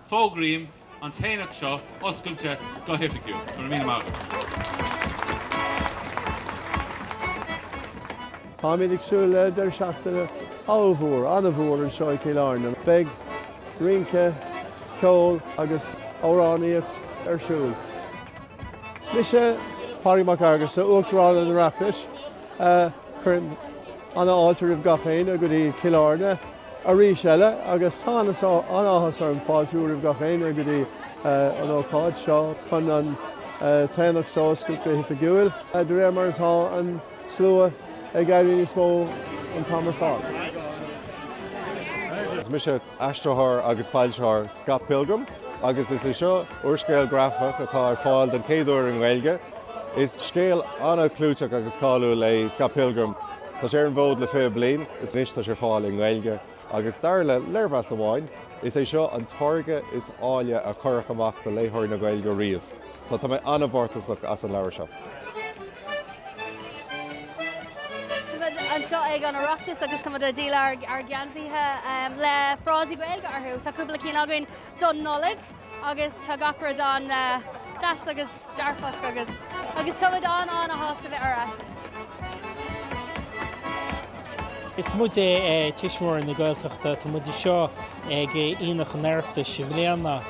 Fógraím an t-aonach seo oscailte go hoifigiúil. Go raibh míle maith agat. Táimid ag súil le deireadh seachtaine ollmhór, an-mhór anseo i gCill Airne. Beidh rince, ceol agus amhránaíocht ar siúl. Mise Pádraig Mac Fhearghusa, Uachtarán an Oireachtais. Cuirim an-fháilte roimh gach éinne go dtí Cill Airne arís eile agus tá an-áthas orm fáiltiú roimh gach éinne go dtí an ócáid seo chun an tAonach so a scaipeadh go hoifigiúil, de réir mar atá an slua ag éirí níos mó an t-am ar fad. Is mise aistritheoir agus foilsitheoir Scott Pilgrim agus is é seo úrscéal grafach atá ar fáil den chéad uair i nGaeilge. Is scéal an-chlúiteach agus cáiliúil é Scott Pilgrim. Tá sé ar an bhfód le fiche bliain is anois tá sé ar fáil i nGaeilge agus dar le léirmheas amháin, is é seo an táirge is áille a cuireadh amach do léitheoirí na Gaeilge riamh. So, tá mé an-mhórtasach as an leabhar seo. Tá muid anseo ag an Oireachtas agus tá muid ag díol ár geansaithe le frásaí Gaeilge orthu. Tá cúpla cinn againn don Nollaig. Agus tá gach rud an-deas agus dearfach agus. Agus tá muid an-an-shásta bheith ann. Is muid Tuismitheoirí na Gaeltachta. Tá muid anseo ag Aonach an Oireachtais i mbliana.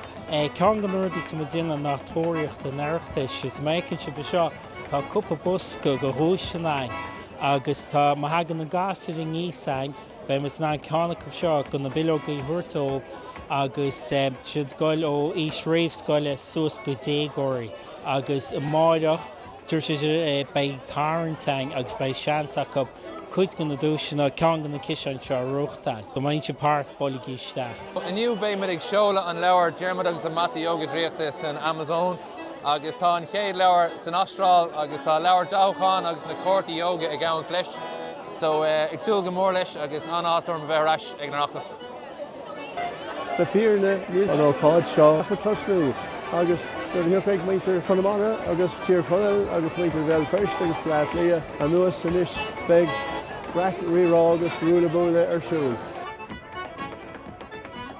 Ceann de na rudaí atá muid a dhéanamh ná Tóraíocht an Oireachtais. Is má fheiceann sibh anseo, tá cúpla bosca de dhuaiseanna againn agus tá, má thagann na gasúir aníos ann, Beidh muide in ann ceann acu seo de na bileogaí a thabhairt dóibh agus siad ag goil ó aois réamhscoile suas go déagóirí agus amáireach tar éis dó beidh tarraingt ann agus beidh seans acu cuid de na duaiseanna, ceann de na ciseáin seo a ghnóthachtáil. Go mbainfidh sibh páirt, bailigí isteach! Inniu beidh muid ag seoladh an leabhar Diarmuid agus an Mata Yoga Draíochta san Amazon. Agus tá an chéad leabhar san Astráil agus tá leabhar dathúcháin agus na cártaí ióga ag gabháil leis. So ag súil go mór leis agus an-áthas orm a bheith ar ais ag an Oireachtas. Le fírinne níl an ócáid seo ach ag tosnú agus nuair a thiocfaidh muintir Chonamara agus Tír Chonaill agus muintir Bhéal Feirste agus Bhaile Átha Cliath anuas anois beidh raic, rí-rá agus ruaille buaille ar siúl.